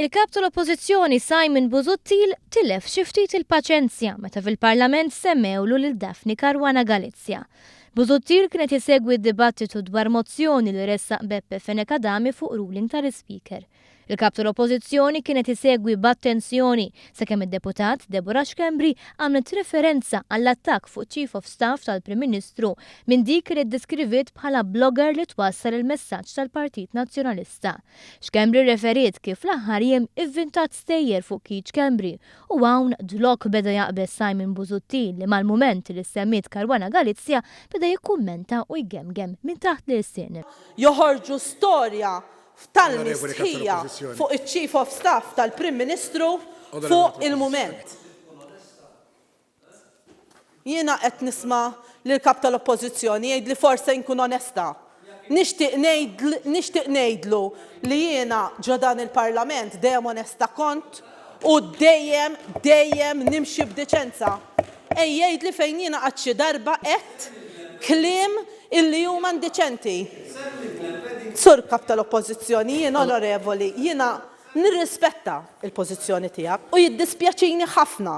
Il-Kap tal-Oppożizzjoni Simon Busuttil tilef xi ftit il-paċenzja meta fil-Parlament semmewlu lil Daphne Caruana Galizia. Busuttil kien qed isegwi d-dibattitu dwar mozzjoni li ressaq Beppe Fenech Adami fuq ruling tal-Ispeaker. Il-Kap tal-Oppożizzjoni kien qed isegwi b'attenzjoni sakemm id-Deputat Deborah Schembri għamlet referenza għall-attakk fuq Chief of Staff tal-Prim Ministru minn dik li ddeskriviet bħala blogger li twassal il-messaġġ tal-Partit Nazzjonalista. Schembri rreferiet kif fl-aħħar jiem ivvintat stejjer fuq Keith Schembri u hawn dlok beda jaqbeż Simon Busuttil li mal-mument li ssemmiet Caruana Galizia beda jikkummenta u jgemgem minn taħt l-ilsien. Joħorġu storja f'tal-mistħija fuq iċ-Chief of Staff tal-Prim Ministru fuq il-mument. Jiena qed nisma' lill-Kap tal-Oppożizzjoni jgħid li forse nkun onesta. Nixtieq ngħid nixtieq ngħidlu li jiena ġo dan il-Parlament dejjem onesta kont, U dejjem, dejjem nimxi b'deċenza. Ej jgħidli fejn jiena qatt xi darba għedt kliem illi huma indiċenti. Sur Kap tal-Oppożizzjoni, jien onorevoli, jiena nirrispetta l-pożizzjoni tiegħek u jiddispjaċini ħafna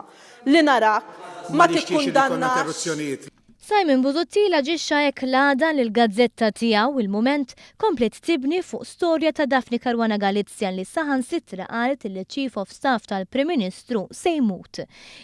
li narak ma tikkundannax. Simon Busuttil aġixxa hekk l-għada li l-gazzetta tiegħu, il-Mument, kompliet tibni fuq storja ta' Daphne Caruana Galizia li saħansitra qalet li ċ-Chief of Staff tal-Prim Ministru se jmut.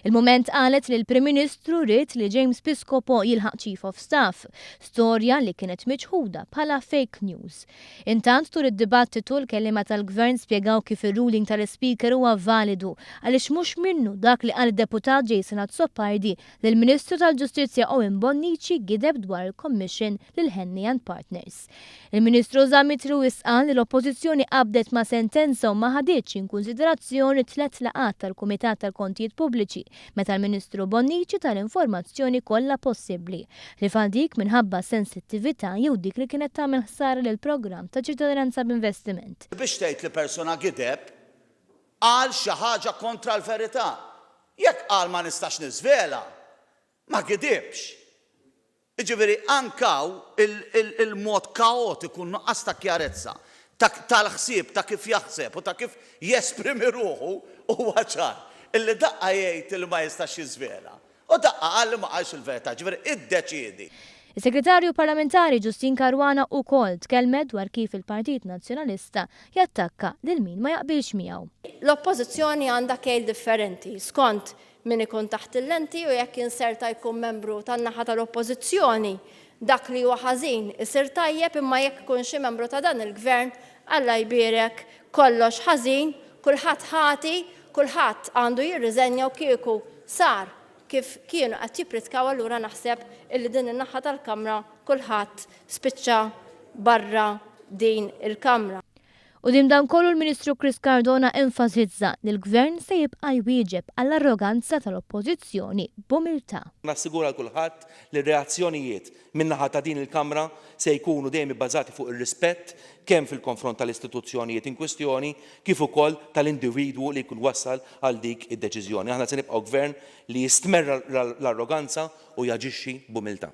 Il-Mument qalet li l-Prim Ministru ried li James Piscopo jilħaq Chief of Staff, storja li kienet miċħuda bħala fake news. Intant tul id-dibattitu l-kelliema tal-Gvern spjegaw kif ir-ruling tal-Ispeaker huwa validu għaliex mhux minnu dak li qal id-Deputat Jason Azzopardi L-Ministru tal-Ġustizzja Owen Bonnici gideb dwar il-Commission lil Henley and Partners. Il-Ministru Zammit Lewis qal li l-Oppożizzjoni qabdet ma' sentenza u ma ħaditx inkunsiderazzjoni tliet laqgħat tal-Kumitat tal-Kontijiet Pubbliċi meta l-Ministru Bonnici ta l-informazzjoni kollha possibbli, ħlief għal dik minħabba sensittività jew dik li kienet tagħmel ħsara lill-programm ta' Ċittadinanza b'Investiment. Biex tgħid li persuna gideb, qal xi ħaġa kontra l-verità. Jekk qal ma nistax niżvela, ma gidibx. Jiġifieri anke hawn il-mod kaotiku, n-nuqqas ta' kjarezza tal-ħsieb ta' kif jaħseb u ta' kif jesprimi ruħu huwa ċar. Illi daqqa jgħid illi ma jistax jiżvela, U daqqa qal li ma qalx il-verità, jiġifieri iddeċiedi. Is-Segretarju Parlamentari Justyne Caruana ukoll tkellmet dwar kif il-Partit Nazzjonalista jattakka lil min ma jaqbilx miegħu. L-Oppożizzjoni għandha kejl differenti skont min ikun taħt il-lenti u jekk inserta jkun membru tan-naħa tal-Oppożizzjoni, dak li huwa ħażin isir tajjeb imma jekk ikun xi membru ta' dan il-Gvern, Alla jbierek, Kollox ħażin, kulħadd ħati, kulħadd għandu jirriżenja u kieku sar kif kienu qed jippritkaw allura naħseb illi din in-naħa tal-Kamra kulħadd spiċċa barra din il-Kamra. Quddiem dan kollu l-Ministru Chris Cardona enfasizza li l-Gvern se jibqa' jwieġeb għall-arroganza tal-Oppożizzjoni b'umiltà. Nassigura lil kulħadd li r-reazzjonijiet min-naħa ta' din il-Kamra se jkunu dejjem ibbażati fuq ir-rispett kemm fil-konfront tal-istituzzjonijiet inkwistjoni kif ukoll tal-individwu li jkun wassal għal dik id-deċiżjoni. Aħna se nibqgħu Gvern li jistmerr l-arroganza u jaġixxi b'umiltà.